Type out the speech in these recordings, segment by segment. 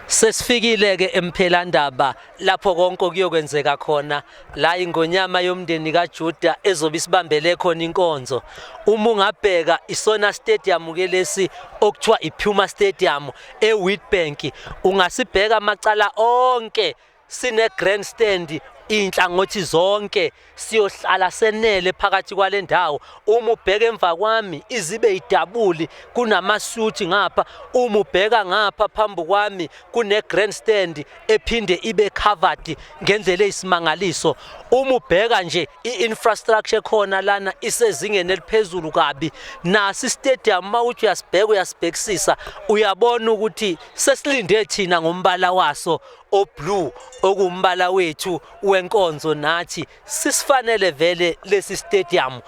Sesifikile-ke emphelandaba lapho konke okuyokwenzeka khona la ingonyama yomndeni kaJuda ezobe isibambele khona inkonzo. Uma ungabheka isona stadium ke lesi okuthiwa iPuma Stadium eWitbank, ungasibheka amacala onke sine grand stand inhlangothi zonke siyohlala senele phakathi kwale ndawo uma ubheka emva kwami izibe idabuli kunamasuthi ngapha uma ubheka ngapha phambi kwami kune grand stand ephinde ibe covered ngendlela eyisimangaliso uma ubheka nje i-infrastructure khona lana isezingeni eliphezulu kabi nasi istadium uma uthi uyasibheka uyasibhekisisa uyabona ukuthi sesilinde thina ngombala waso oblue okumbala wethu wenkonzo nathi sisifanele vele lesi stadium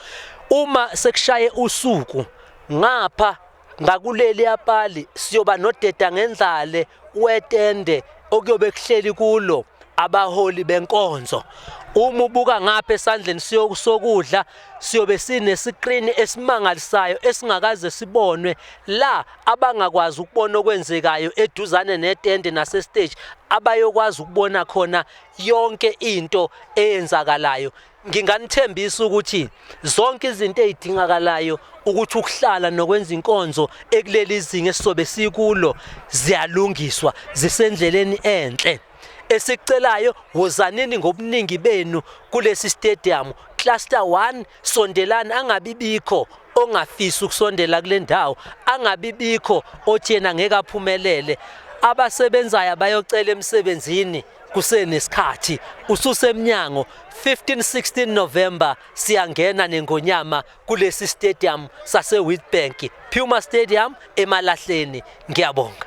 uma sekushaye usuku ngapha ngakuleli yapali siyoba nodeda ngendlale wetende okuyobe kuhleli kulo abaholi benkonzo uma ubuka ngapha esandleni sokudla siyobe sinesikrini esimangalisayo esingakaze sibonwe la abangakwazi ukubona okwenzekayo eduzane netende nasestage abayokwazi ukubona khona yonke into eyenzakalayo nginganithembisa ukuthi zonke izinto ezidingakalayo ukuthi ukuhlala nokwenza inkonzo ekuleli zinga esizobe sikulo ziyalungiswa zisendleleni enhle esicelayo wozanini ngobuningi benu kulesi stadium cluster 1 sondelani angabibikho ongafisi ukusondela kule ndawo angabibikho othi yena ngeke aphumelele abasebenzayo abayocela emsebenzini kusenesikhathi ususemnyango 15-16 November siyangena nengonyama kulesi stadium sase-Witbank Puma Stadium emalahleni ngiyabonga